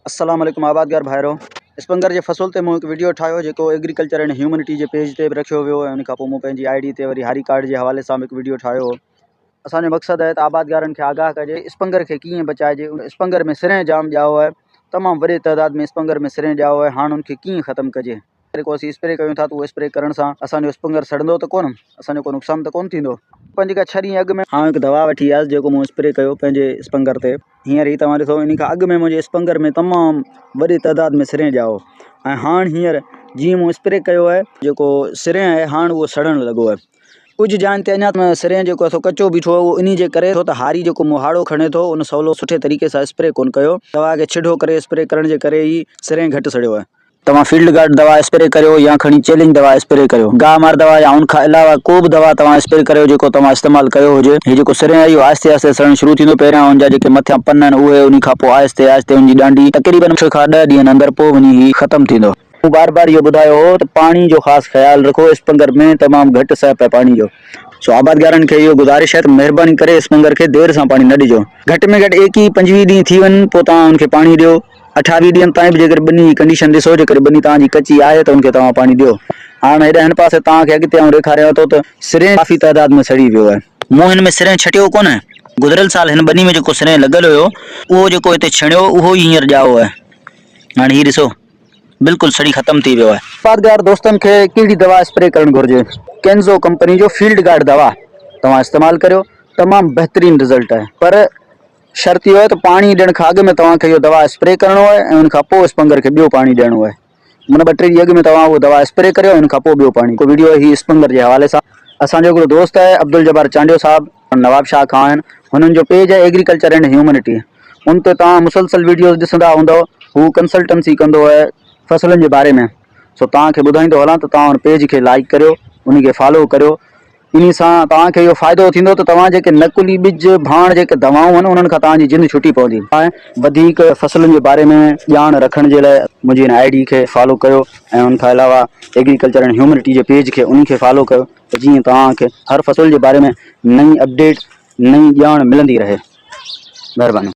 السلام عليڪم آبادگار ڀائرو اسپنگر جي فصل تي مون هڪ وڊيو ٺاهيو جيڪو ايگريڪلچر اينڊ هيومنٽي جي پيج تي به رکيو ويو ۽ ان کان پوء مون پنهنجي آئي ڊي تي وري هاري ڪارڊ جي حوالي سان به هڪ وڊيو ٺاهيو هو اسان جو مقصد آهي ته آبادگارن کي آگاهه ڪجي اسپنگر کي ڪيئن بچائجي اسپنگر ۾ سرين جام ڄائو آهي تمام وڏي تعداد ۾ اسپنگر ۾ سرين ڄائو آهي هاڻ ان کي ڪيئن ختم ڪجي. جيڪو اسين اسپري ڪيون ٿا ته اهو اسپري ڪرڻ سان اسان جو اسپنگر سڙندو ته ڪونه اسان جو ڪو نقصان ته ڪونه ٿيندو پنج کان ڇهه ڏينهن اڳ ۾ آئون هڪ دوا وٺي آيس جيڪو مون اسپري ڪيو پنهنجي اسپنگر تي هينئر هي توهان ڏسو ان کان اڳ ۾ منهنجي اسپنگر ۾ تمام وڏي تعداد ۾ سرين ڄاهو ۽ هاڻ هينئر جيئن مون اسپري ڪيو آهي جيڪو سرين آهي هاڻ اهو سڙڻ لڳو آهي ڪجهه جاين تي اڃا سرين جيڪو اٿو ڪچو بيٺو آهي اهو ان جي ڪري ٿو ته هاري جيڪو مون هاڙو کڻي ٿو ان سولو سٺي طريقي سان اسپري ڪونه ڪيو دوا کي ڇڍو ڪري اسپري ڪرڻ جي ڪري ئي سرين گهٽ سڙيو آهي توهان فيلڊ گارڊ دوا اسپري ڪريو يا کڻي چيلنج دوا اسپري ڪريو. گاهه مار دوا يا ان کان علاوه ڪو به دوا توهان اسپري ڪريو جيڪو توهان استعمال ڪيو هجي. هي جيڪو سرين آهي اهو آهستي آهستي سڙڻ شروع ٿيندو. پهريان ان جا جيڪي مٿيان پن آهن اهي انهي کان پوء آهستي آهستي ان جي ڏانڊي تقريبن ڇهه کان ڏهه ڏينهن اندر پوء وڃي هي ختم ٿيندو. مون بار بار اهو ٻڌايو هو ته پاڻي جو خاص خيال رکو اسپنگر ۾ تمام گهٽ سهپ آهي پاڻي جو سو آبادگارن کي اهو گذارش آهي ته مهرباني ڪري اسپنگر کي دير سان پاڻي نه ڏجو. گهٽ ۾ گهٽ ايڪيهه پنجويهه ڏينهن ٿي وڃن پوء توهان ان کي پاڻي ڏيو. اٺاويهه ڏينهن تائين به جيڪڏهن ٻني جي ڪنڊيشن ڏسو جيڪڏهن ٻني توهان جي ڪچي آهي ته ان کي توهان پاڻي ڏيو. هاڻ هيڏانهن هن پاسي توهان کي اڳتي آئون ڏيکاريان ٿو ته سرينهن ڪافي تعداد ۾ سڙي ويو آهي. مون هن ۾ سرينهن ڇٽيو ڪونه. گذريل سال هن ٻني ۾ جيڪو سرينهن لڳل هيو اهو جيڪو هتي ڇڻيو اهو ئي هينئر ڄائو آهي. هاڻ هي ڏسو بلڪل سڙي ختم ٿي ويو آهي. پادگار دوستن کي ڪهڙي دوا اسپري ڪرڻ گهرجي؟ ڪينزو ڪمپني جو فيلڊ گارڊ دوا توهان استعمال ڪريو تمام بهترين رزلٽ آهي پر شرط اهو آهي ته پاڻي ڏيڻ کان اڳ ۾ توهان کي اهو دوا اسپري ڪرڻو آهي ۽ ان کان پوء اس پنگر کي ٻيو پاڻي ڏيڻو آهي من ٻه ٽي ڏينهن اڳ ۾ توهان اهو دوا اسپري ڪريو ۽ ان کان پوء ٻيو پاڻي ڏيو. ويڊيو هي اس پنگر جي حوالي سان اسان جو هڪڙو دوست آهي عبدالجبار چانڊيو صاحب نواب شاهه کان آهن هنن جو پيج آهي ايگريڪلچر اينڊ هيومنٽي ان تي توهان مسلسل ويڊيوز ڏسندا هوندؤ هو ڪنسلٽنسي ڪندو آهي فصلن جي باري ۾ سو توهان کي ٻڌائيندو هلان ته توهان ان پيج کي لائيڪ ڪريو انهي کي فالو ڪريو. انهي سان توهان کي اهو فائدو ٿيندو ته توهان جيڪي نقلي ٻج، ڀاڻ جيڪي دوائون هن انهن کان توهان جي جند ڇٽي پوندي. وڌيڪ فصلن جي باري ۾ ڄاڻ رکڻ جي لاء منهنجي هن آئي ڊي کي فالو ڪيو ۽ ان کان علاوه ايگريڪلچر اينڊ هيومنٽي جي پيج کي انهي کي فالو ڪيو ته جيئن توهان کي هر فصل جي باري ۾ نئين اپڊيٽ نئين ڄاڻ ملندي رهي. مهرباني.